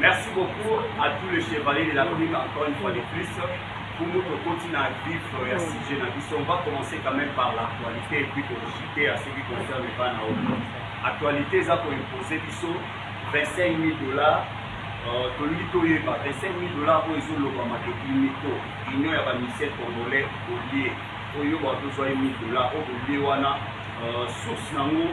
Merci beaucoup à tous les chevaliers de l'Afrique encore une fois de plus. Pour nous, tokoti na vif ya sujet na biso, on va commencer quand même par l'actualité et puis tokochiter à ce qui concerne bana oyo. Actualité eza koimpose biso 25 000 dollars euh, tolingi toyeba 25 000 dollars oyo ezolobama te imito union ya bamisel congolais olie oyo bato ozwa ye 1000 dollars oyo olie wana euh, source nango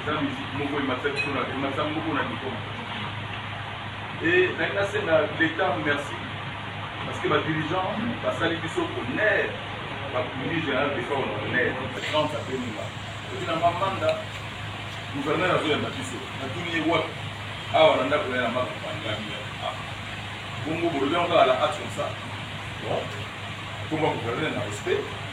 eza musique moko ematisa biso na ematisa moko na niveau e nangi nasenga l'état merci parce que badirigeant basali biso bonheur bakundi général defa on honneur grande abenima oki na mamanda gouverneur azoyamba biso natuni ye wapi awa na ndako ya na makapangami ah. bongo bolobi yango kaka la hate comme ça bon komba gouverneur na respect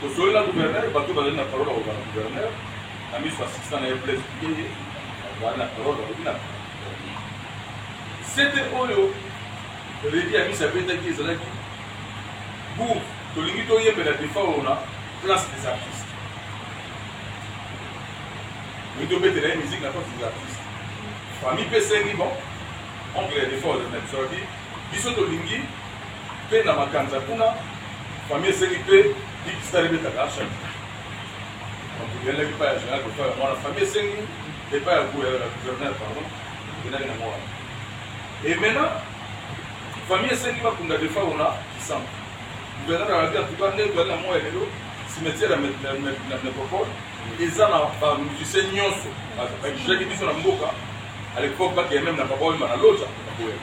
Tosololi na gouverneur, bato oyo bazali na parole ya kozala gouverneur, na miso ya assistant na ye Blaise Bikenge, bazali na parole, balobi na CT oyo Reddy Amisi abetaki ezalaki bourg, tolingi toyembela Defao na place des artistes. Tolingi tobetela ye musique na place des artistes. Famille mpe esengi bon, oncle ya Defao azali na biso, biso tolingi Mpe na makanza ya kuna, famille esengi mpe Big Star ebetaka Arshad. Donc eyandaki epai ya General Godefroid ya mwana famille esengi epai ya gouverneur, pardon, eyandaki na mwana. Et maintenant, famille esengi bakunda defa ona kisambo gouverneur alobi antuka nde tozali na moi ya lelo cimetière ya métropole eza na bamusicien nyonso bakijaki biso na mboka à l'époque bakeye meme na papa oyemba na loja bakoyema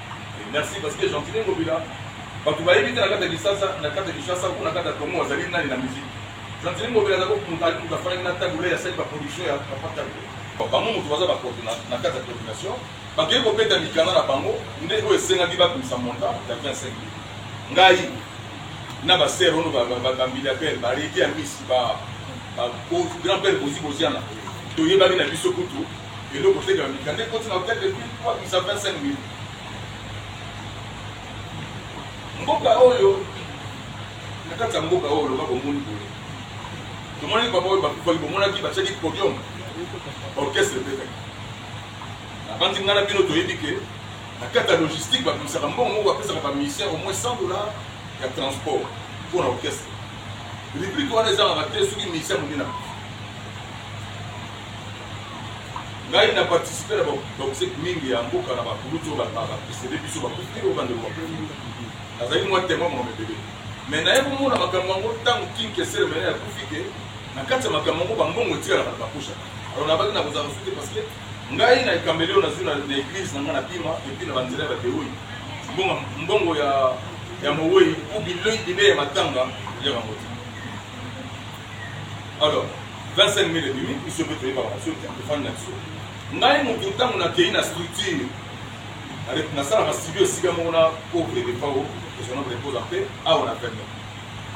Merci parce que Gentini Ngobila bato bayebi te na kati ya Kinshasa na kati ya Kinshasa ou na kati ya Congo azali nani na musique. Gentini Ngobila azali ko mutu azali mutu afandaki na Tabu Ley asali ba production ya papa Tabu Ley. Bango mutu baza ba coordina na kati ya coordination bakei kobeta mikanda na bango nde oyo esengaki babimisa montant ya 25 mille ngai na ba sœur ono ba ba ba milliardaire ba reki ya misi ba ba grand père bozi boziana toyebaki na biso kutu Eloko te ka mikanda ekoti na hotel de ville po abimisa 25 millions. Mboka oyo na kati ya mboka oyo loba bomoni boye tomonaki papa oyo bakufaki bomonaki batiaki podium orchestre ebetaki nabandi ngai na bino toyebi ke na kati ya logistique babimisaka mbongo moko bapesaka bamusicien au moins 100 dollar ya transport mpo na orchestre rubrike wana ezangaka te soki musicien monene akufi Ngai na participer na ba musique mingi ya mboka na ba kulutu oyo ba precede biso ba kufi oyo bande ba kufi. Nazali mwa temoin mwa mebele. Mais na ye komona makambo yango tango King Kessel mena ya kufi ke na kati ya makambo yango ba mbongo etikala na ba kusha. Alors na baki na kozala suki parce que ngai na ekambeli oyo nazwi na l'église na ngai na bima et puis na ba nzela ya ba teoyi. Mbongo ya ya mowei ou bilei bilei ya matanga ya ba moti. alors 25 mille ebimi biso mpe toyebaka biso te tofandi na biso ngai motu ntango nakei na structure nasalaka studio esika moko na pauvre depao ezona reposa mpe awa na peme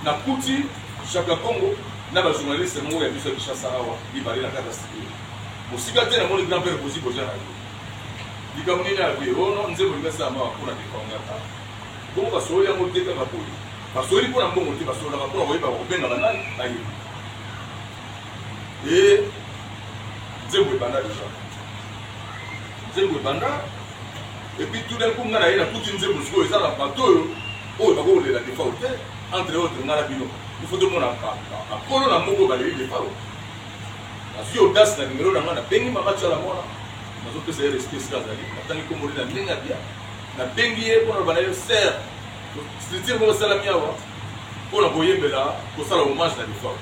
nakuti jaka congo na bajournaliste moko ya biso ya kinshasa awa mibale na kati ya studio mosika te namoni grand père bozi boja na yo likambo nini akoye ono nzembo lingasala mawa mpo na depao ngata bongo basooli yango te kaka boye Basololi mpo na mbongo te, basololaka mpo na koyeba bakobenga banani bayebi. Ee, nzembo ebanda deja, nzembo ebanda epuis tout d'un coup ngai naye nakuti nzembo sikoyo eza na bato oyo oyo bakokolela defao te entre autre ngai na bino ifo tomona bakolo na moko baleli defao nazwi audace na nimero na ngai nabengi mama tiala mwana nazopesa ye respect esika azali natangi komboli na ndenge ya bia nabengi ye mpo na loba na ye ser Structure moko esalami awa mpo na koyembela kosala hommage na defunt.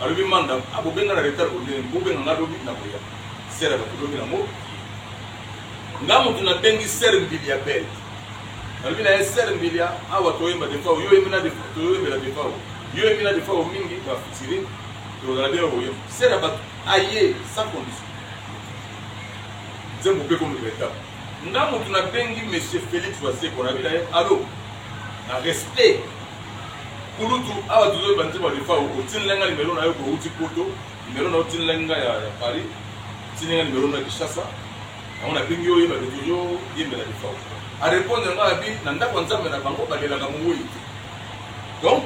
Alobi Manda, ah bobenga na retard bondele, bobenga nga lobi na koya. Sere ya bato lobi na ngo. Nga moto na bengi Sere Mbilia Bel. Alobi na ye Sere Mbilia, awa toyemba defunt, yo yembi na defunt, toyembela defunt. Yo yembi na defunt mingi, ba fitiri, tozala bien koyemba. Sere ya bato, aye, sans condition. Nzembo mpe comme retard. Nga mutu na bengi monsieur Felix wa seko na bina ye allo na respect kulutu awa tozo ba nzembo ya Defao otinela nga numero na yo ko uti poto numero na yo otinela nga ya, ya Paris otinela nga numero na yo Kinshasa yango na bengi yo oyeba ke tozo yembela Defao a répondre nga abi na ndako ya Nzambe na bango balelaka moweyi te donc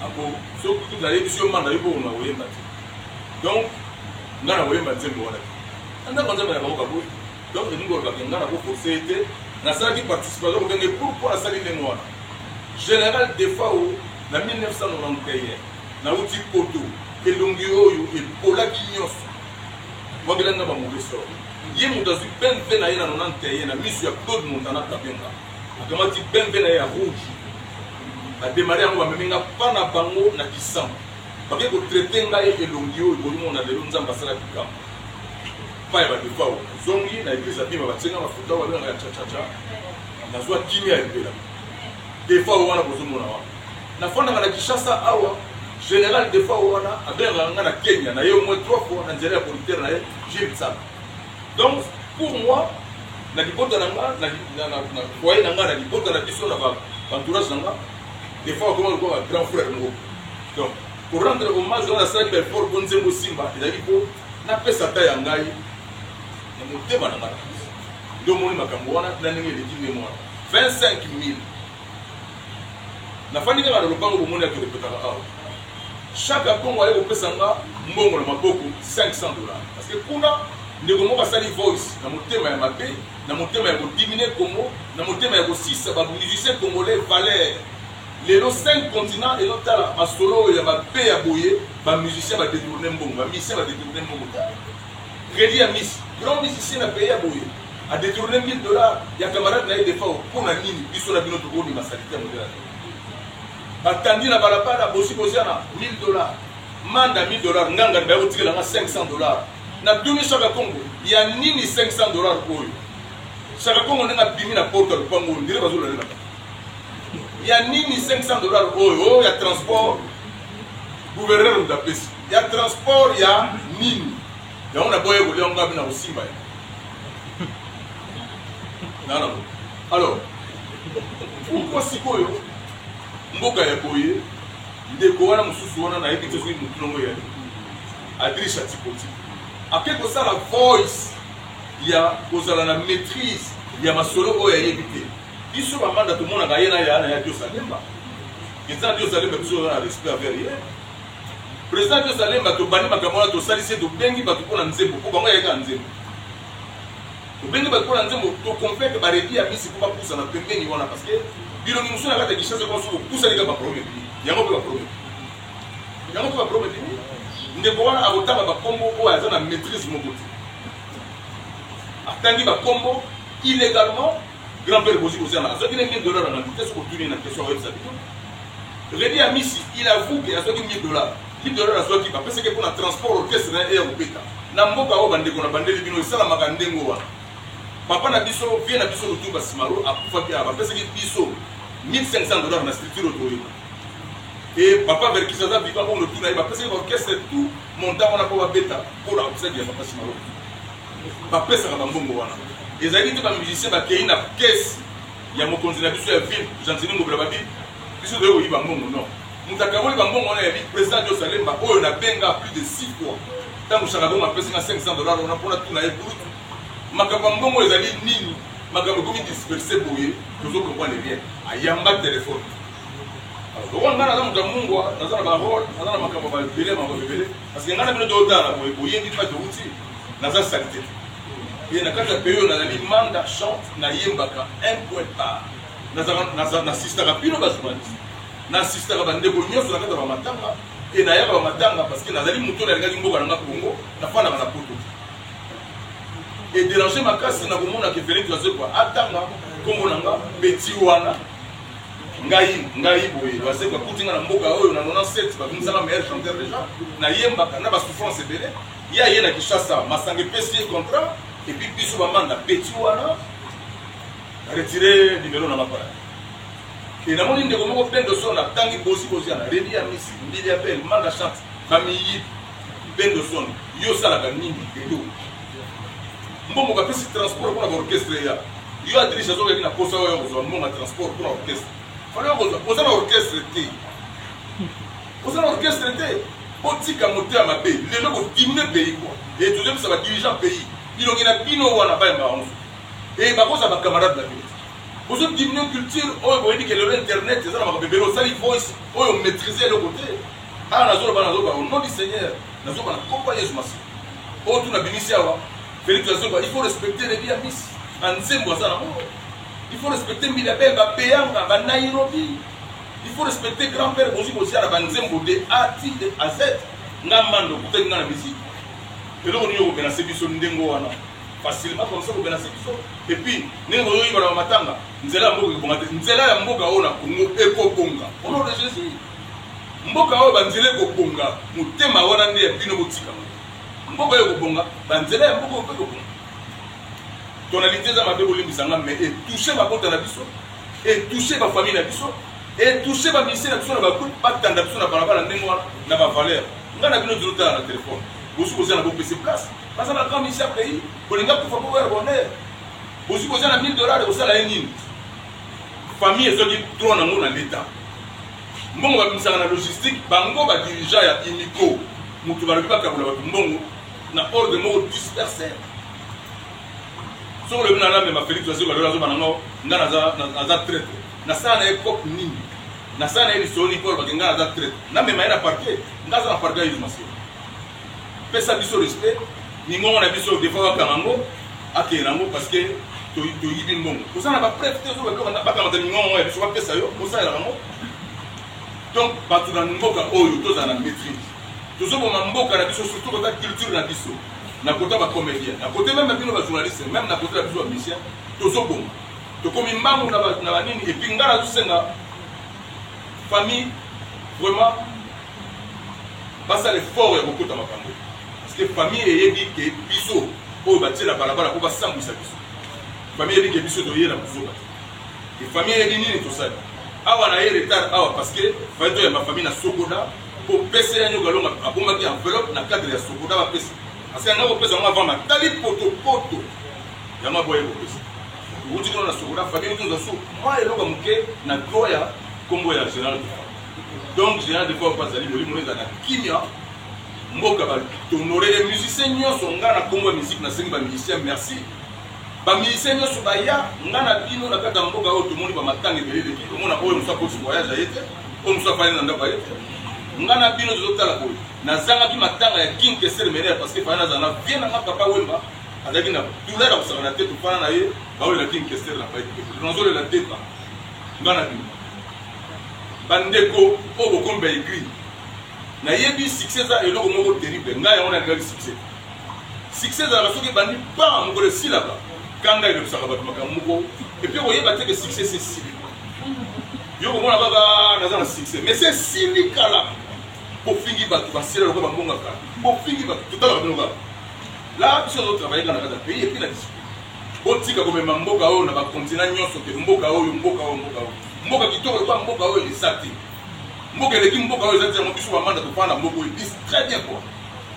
ako soki kutu nayebisi yo manda yo bongo na koyemba te donc nga na koyemba nzembo wana te Anda kwanza bana bango kaboi. Donc elingi koloba ke nga nako force ye te. Nasalaki participation kobenge pourquoi asali ndenge wana. General Defao na 1991 nauti Poto elongi oyo epolaki nyonso. Mwabela nga ba mauvais sort. Ye moto azwi BMW na ye na 91 na miso ya Claude Montana Kabenga. Akamati BMW na ye ya rouge. Ademare yango bamemi nga pa na bango na Kisama. Bake kotraite ngai elongi oyo bolimona lelo Nzambe asalaki kambo. epai ya ba defao zongi na eglise ya bima batie nga mafuta oyo babengaka ya chachacha nazwa kimia ya libela defao wana bozomona wana nafandaka na kinshasa awa général de fois wana abengaka nga na kenya na ye au moins trois fois na nzela ya producteur na ye gilles sala donc pour moi na libota na nga na foyer na nga na libota na biso na baentourage na nga de fois akoma lokola grand frère moko donc Ko rendre hommage wana nasali ba effort po nzembo esimba ezalaki po napesa ata ya ngai na motema na ngai nde omoni makambo wana na ndenge eleki ndenge wana 25000 nafandi kaka na lopango bomoni ake repetaka awa chaque akongo aye kopesa nga mbongo na maboko 500 dollars parce que kuna ndeko moko asali voice na motema ya mabe na motema ya kodimine kongo na motema ya kosisa bamusicien congolais valeur Lelo cinq continents ezo tala masolo oyo ya ba pe ya boye ba musiciens ba detourne mbongo ba musiciens ba detourne mbongo tala credit ya miss grand musicien na pays ya boye a detourne 1000 dollars ya camarade na ye defao mpo na nini biso na bino tokomi ma salite ya modela batandi na balabala bosi boziana 1000 dollars manda 1000 dollars nganga baye kotikela nga 500 dollars na duni shaka kongo ya nini 500 dollars oyo shaka kongo ndenge abimi na porte ya lopango oyo ndire bazolalela ya nini 500 dollars oyo oyo ya transport gouverneur moto apesi ya transport ya nini yango na boye kolia yango abi na kosimba ye nana alors pourkoi sikoyo mboka ya boye ndeko wana mosusu wana nayebi te soki motu nongo ya adriche atipoti ake kosala voice ya kozala na maîtrise ya masolo oyo ayebi te Biso ba manda tomonaka ye na ya na ya Dios Alemba. Eza Dios Alemba biso na respect envers ye. President Dios Alemba tobandi makambo wana tosalisi ye tobengi bato mpo na nzembo mpo bango yayeka nzembo. Tobengi bato mpo na nzembo toconvaincre baredi ya misi mpo bapusana pembeni wana parce que bilongi mosusu na kati ya Kinshasa kwa soki opusani kaka baproblème ebimi. Yango mpe baproblème. Yango mpe baproblème ebimi. Ndeko wana akotanga bakombo oyo aza na maîtrise moko te. Atangi bakombo illégalement Grand père Bozi Bozi Amara azwaki nde 1000 dollars na bantu te soki otuni ye na question akoyebisa bino. Redi Amisi il avoue que azwaki 1000 dollars. 1000 dollars azwaki bapesaki mpo na transport orchestre na ye eya kobeta na mboka oyo bandeko na bandeli bino esalamaka ndenge wana. Papa na biso vie na biso Lutumba Simaro akufaki awa bapesaki biso 1500 dollars na structure otoyeba. Et papa Verkis aza vivant oyo lotuna ye bapesaki orchestre tout montant wana mpo babeta mpo na obsèque ya papa Simaro. ba pesaka ba mbongo wana ezalaki te ba musiciens ba keyi na caisse ya mokonzi na biso ya ville gentini ngobila babi biso toye koyiba mbongo non moto akaboli bambongo wana yabi président dio salemba oyo nabenga plus de six fois ntango shakadongo apesi nga 500 dollar wana mpona tuna ye bulutu makambo ya mbongo ezali nini makambo ekomi disperse boye tozo comprendre bien ayamba telefone lokola ngai naza moto ya mungwa naza na barole naza na makambo babele makambo ebele parce que ngai na bino totala boye boyebi mpa touti Naza salite te. Et na kati ya pays oyo nazali manda chante na yembaka un point par. Nazaka naza na assistaka bino ba journaliste. Na assistaka ba ndeko nyonso na kati ya ba matanga et na yaka ba matanga parce que nazali moto na lingaki mboka na nga Congo na fandaka na poto. Et déranger makasi na komona ke Felix Wazekwa atanga kombo na nga petit wana ngai ngai boye bazeko akuti nga na mboka oyo na 97 babimisaka meilleur chanteur déjà nayembaka na basouffrance ebele Ye aye na Kinshasa, masanga epesi ye contrat et puis biso ba manda petit wana retire numero na nga pona e namoni ndeko moko bendo so na tangi bosi bosi ana redi ya misi mbili ya bel manda chante bamiyi bendo son yo osalaka nini edo mbongo bapesi transport mpona baorchestre ya yo adriche azokaki na posa oyo kozwa mbongo ya transport mpona orchestre fana oza na orchestre te Oza na orchestre te botika moto ya mabe lelo ko diminue pays quoi et tozo bisa ba dirigeants pays bilongi na bino wana ba yamba yango et bakoza ba camarades na bino bozo diminue culture oyo boyebi ke lelo internet eza na makambo ebele osali voice oyo maîtrise eloko te awa nazoloba nazoloba au nom du seigneur nazoloba na kompa yesu masi oyo tuna bimisi awa felix azoloba il faut respecter rebi ya misi anzembo aza na moko il faut respecter mbila bel bapeyanga banairobi Il faut respecter grand père bozi bozi ala ba nzembo de A ti de A Z nga mando kutaki nga na musique eloko nini yoko menase biso ndengo wana facile ba commencer ko menase biso et puis nini ko yoyi bana matanga nzela ya mboka ekobonga te nzela ya mboka oyo na Congo ekobonga au nom de Jésus mboka oyo banzela ekobonga motema wana nde ya bino botika mboka oyo ekobonga banzela ya mboka oyo mpe ekobonga tonalite eza mabe bolimbisa nga me etouche mabota na biso e touche ba famille na biso e touche ba musicien na biso na ba groupe ba tanda biso na balabala ndenge wana na ba valeur nga na bino dino tala na telefone bosu boza na bopesi place baza ba grand musicien pays bolinga kufa po ya bonheur bosu boza na 1000 dollars kosala ye nini famille ezwaki droit na ngo na leta mbongo babimisaka na logistique bango badirigea ya imiko moto balobi bakabola bato mbongo na ordre moko disperser soki olobi na namema felix azoka lola azoba na ngo nga naza traite nasala na ye cope nini nasala na ye lisoni mpo olobaki nga naza traite namema ye na parquet nga aza na parquet ya isolation pesa biso respect mingongo na biso defa bakanga yango akende na yango parce que toyibi mbongo oza na bapreve te bakamata mingongo ya biso bapesa yo osalela bango donc bato na mboka oyo tozala na maîtrise tozoboma mboka na biso surtout kota culture na biso na kote ya ba comedien na kote meme bino ba journaliste meme na kote ya biso ba musicien tozoboma tokomi mbangu na banini epuis ngai nazosenga famille vraiment basala effort ya kokota makambo parceke famille eyebi ke biso oyo batie na balabala mpo basambwisa biso famille eyebi ke biso toye na buzoba te famille eyebi nini tosali awa na ye retard awa parceke fai toyamba famille na sokoda kopesa ya nyoka longa abomaki enveloppe na cadre ya sokoda bapesa asika ngai kopesa yango avant matali potopoto yango aboye kopesa outi kino na sokoda fabien otunza su mwa eloko moke na droit ya nkombo ya général de donc général de fort mpe azali molimo no ezalaka kimia mboka batonore ye musicien nyonso ngai na nkombo ya miziki nasengi bamusicien merci bamusicien nyonso baya ngai na bino na kati ya mboka oyo tomoni bamatanga ebele eleki omona oyo mosu akosi voyage aye te oyo mosusu afandi na ndako aye ngai na bino tozotala boye nazangaki matanga ya king kesere menere parce que fana nazala na vie nanga papa wemba azalaki na douleur ya kosakana te tofana na ye baolela king kesere na paenazolela deba ngai na bino bandeko oyo bokomba egri nayebi succès eza eloko moko terrible ngai yango nalingaki succès succès ezalaka soki ebandi pa mokolo esilaka kanga elobisaka bato makambo moko epui koyeba te ke succès sesili yo komona kaka naza na succès mais se esili kala bofingi bato basila lokola bangongaka bofingi bato totalaka bino kaka la biso azotravaille kaka na kati ya pays epuis na discipline botika komema mboka oyo na bakontina nyonso te mboka oyo mboka oyo mboka oyo mboka kitoko lokola mboka oyo eza te mboka eleki mboka oyo eza te yango biso bamanda tofanda na mboka oyo ebisi très bien kua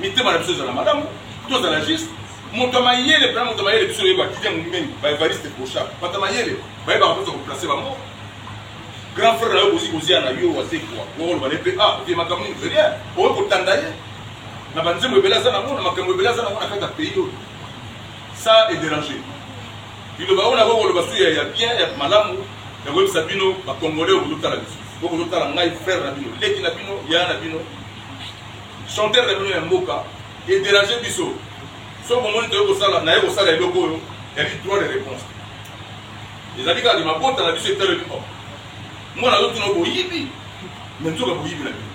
mitema na biso ezala malamu tozala juste moto ya mayele mpena moto ya mayele biso oyeba kiti ya mombengi baevariste bocha bato ya mayele bayebaka mposa koplace bango grand frère na yo bozi kozia na yo wazekwa okoloba ne mpe a ah, vie makambo nini verie okoki kotanda ye na banzembo ebele aza nango na makambo ebele aza nango na kati ya pays oyo ça est déranger liloba oyo nakoki koloba su ya bien ya malamu ya koyebisa bino bacongolais oyo bozotala biso oyo bozotala ngai frère na bino leki na bino yaya na bino chanteur na bino ya mboka E deranger biso. Soki omoni toye kosala, naye kosala eloko oyo, ezali droit de reponse. Ezali kaka mabota na biso etaleli o. Mwana azotuna boyibi, me nzoka boyibi na bino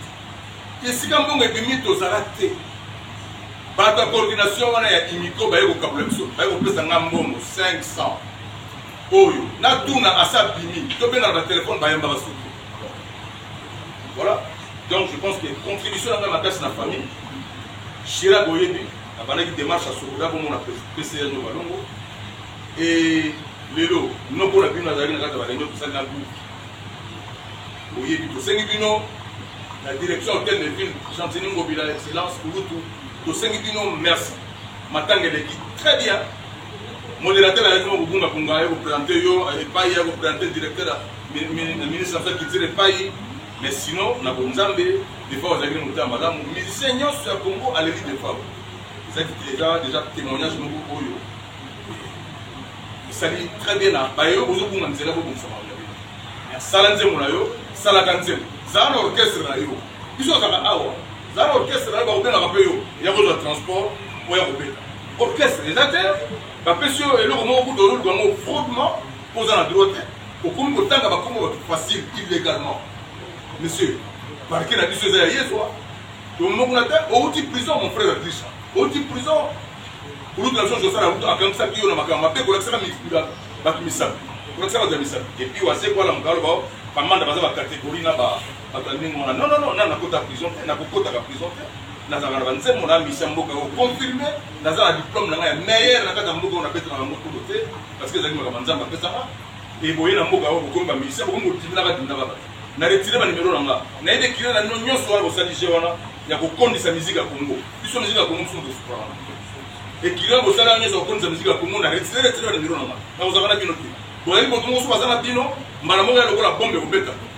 te. Esika mbongo ebimi tozala te. Bato ya coordination wana ya imiko baye kokabola biso, baye kopesa nga mbongo 500 oyo natuna asa bimi, tobengana batelefone bayamba basuki Voilà. Donc je pense que contribution nanga makasi na famille. Chira boyebi abandaki démarche ya sokola komona PCA no balongo. Et lelo noko na bino azalaki na kati ya balenge tosali na groupe. Boyebi tosengi bino la direction hôtel de ville Gentini Ngobila excellence Kulutu tosengi bino merci. Matanga eleki très bien. Moderateur ayaki kobunga bunga aye ko presenter yo epai ya ko presenter directeur ya ministre affaire culture epai mais sinon na bonzambe defa ozalaki na motema malamu musicien nyonso ya congo aleli defa ezaki eza deja témoignage moko oyo esali très bien na baye oyo bozobunga nzela bobongisama sala nzembo na yo salaka nzembo zala na orchestre na yo biso azaka awa zala na orchestre na yo bakobengaka mpe yo ya kozwa transport oya kobeta Orchestre eza te, ba pesi yo eloko moko kutu ozo luka ngo fraudement po oza na droit te. Okomi ko tanga ba kombo batu facile illegalement. Monsieur, parquet na biso eza ya yezwa. To moko na te, owuti prison mon frère Adrisha. Owuti prison. Kulutu na biso Joseph Aruto akangisaki yo na makambo mabe kolakisaka mikunda batu misapi. Kolakisaka batu ya misapi. Et puis wase kwa la mukalo bao, kamanda baza ba categorie na ba Bato ya ndenge wana non non non, nani nakota prison te, nakokotaka prison te. Nazalaka na ba nzembo na misa mboka oyo confirme, naza na diplome na ngai ya meilleur na kati ya mboka oyo nabetaka yango kudo te parce que ezalaki makambo Nzambe apesaka. Et boye na mboka oyo bokomi ba musiciens, bokomi kotindaka tindaka bato. Na retire ba numero na nga. Nayebi ekile na bino nyonso wana bosali jeu wana ya kokondisa miziki ya Congo. Biso miziki ya Congo biso tosuprana. Ekile bosali yango nyonso ya kokondisa miziki ya Congo na retire retire ba numero na nga. Nakozalaka na bino te. Boyebi moto moko soki aza na bino mbala moko ya lokola bombe ekobeta.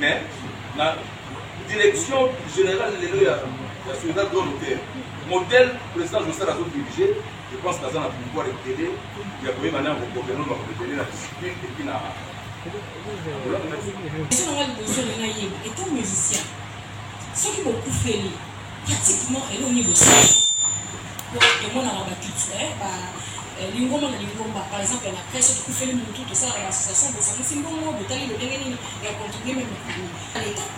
Mais na direction generale lelo ya ya Soledad Grand Hôtel modèle président Jossel azo diriger je pense kaza na pouvoir ebele ya koyeba na kokokelo na kokokelo na discipline et puis na Question nanga liboso na ngai yeba etant musicien soki bokufeli pratiquement eloko nini bosala po emonaka baculture ba Lingomba na lingomba, par exemple na crèche, soki ekufeli mutu, tosalaka ba associations, bosangisi mbongo, botali lolenge nini ya contribuer meme na famille na l'etat.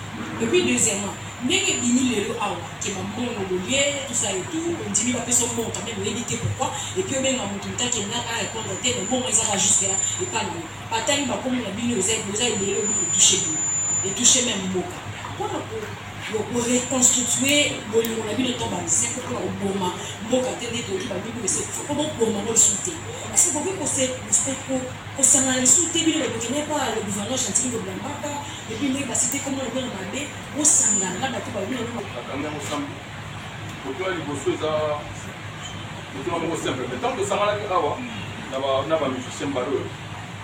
Et puis deuxièmement, ndenge ebimi lelo awa que ba mbongo bolie, tout ça et tout, ondimi bapesa yo mbongo quand meme oyebi te pourquoi, et puis obenga mutu mutu akenda a repondre te, mais mbongo eza kaka jusque là epa na yo. Batangi ba kombo na bino, eza ebele, oyebi que e toucher bino, e toucher meme mboka. Pona ko. Yo ko reconstituer bolingo na bino to ba nzembo pona ko boma mboka te nde toyoki ba mibu esi ekufa po bo boma ngo lisusu te est ce que bokoki ko se ko sangana lisusu te bino batu kende epa le gouverneur gentini lobi la mbaka et puis ndenge ba cite kombo na bino na mabe bo sangana na batu balobi na bino bakangi yango samedi kotola liboso eza kotola moko simple mais tant tosanganaki awa na ba musicien mbala oyo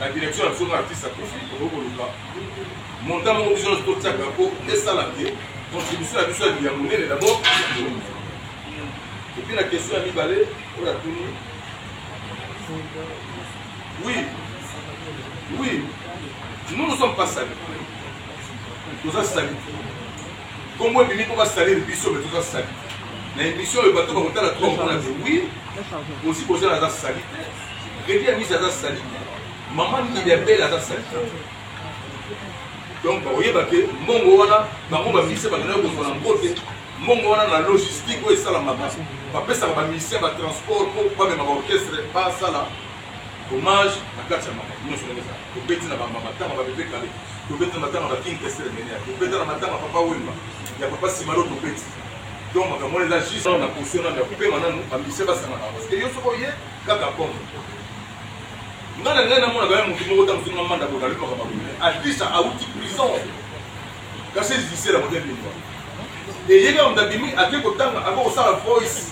Na direction na biso nga artiste akufi tokoki koluka montant moko biso nyonso totiaka mpo esala te contribution na biso ya liya monene d'abord epuis na question ya mibale oyo atuni oui oui nous nous sommes pas sali toza sali kombo ebimi mpo basaleli biso me toza sali na émission oyo bato bakotala trop mpo na oui osi kozala aza sali te Redi ya misa aza sali mama mikili ya bele aza sali donc bakoyeba ke mbongo wana bango bamise bakendaki kozwa na mbote mbongo wana na logistique oyo esalamaka bapesaka bamisien batransport mpo bamema baorchestre basala hommage na kati ya makambo nyonso ndenge ezala tobeti na bamatanga babebe kale tobeti na matanga ba king kestere menea tobeta na matanga papa wemba ya papa simalo tobeti donc makambo wana eza juste na position nano ya kopema nano bamisien basangana parce que yo soko oye Kaka comme nga na ngai namonaka ya motu moko ntango soki mamanda boye nalukaka mabume atlisa awuti prison kasi ezisela mote bimba eyeka moto abimi ake kotanga ako kosala voice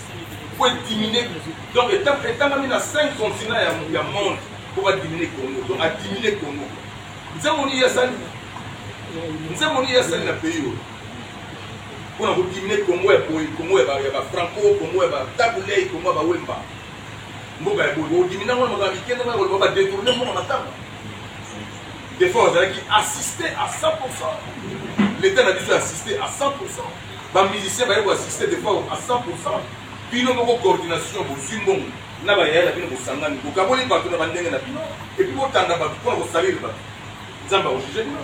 po edimine donc etangami na 5 continent ya monde po badimine congo donc adimine congo nzembo nini ye asali nzembo nini ye asali na pays oyo pona ko diminue congo ya boye congo ya ba franco congo ya ba tabu ley congo ya ba wemba mboka ya boye ko diminue ngo na makambo mike ndenge koloba ba detourne mboka matanga defort azalaki assiste à 100 l'état na biso assiste à 100 ba musicien baye ko assiste defort à 100 bino moko coordination bozwi mbongo na bayaya na bino bosangani bokaboli bato na bandenge na bino epuis botanda bato mpona kosalele bato nzambe akojuge bino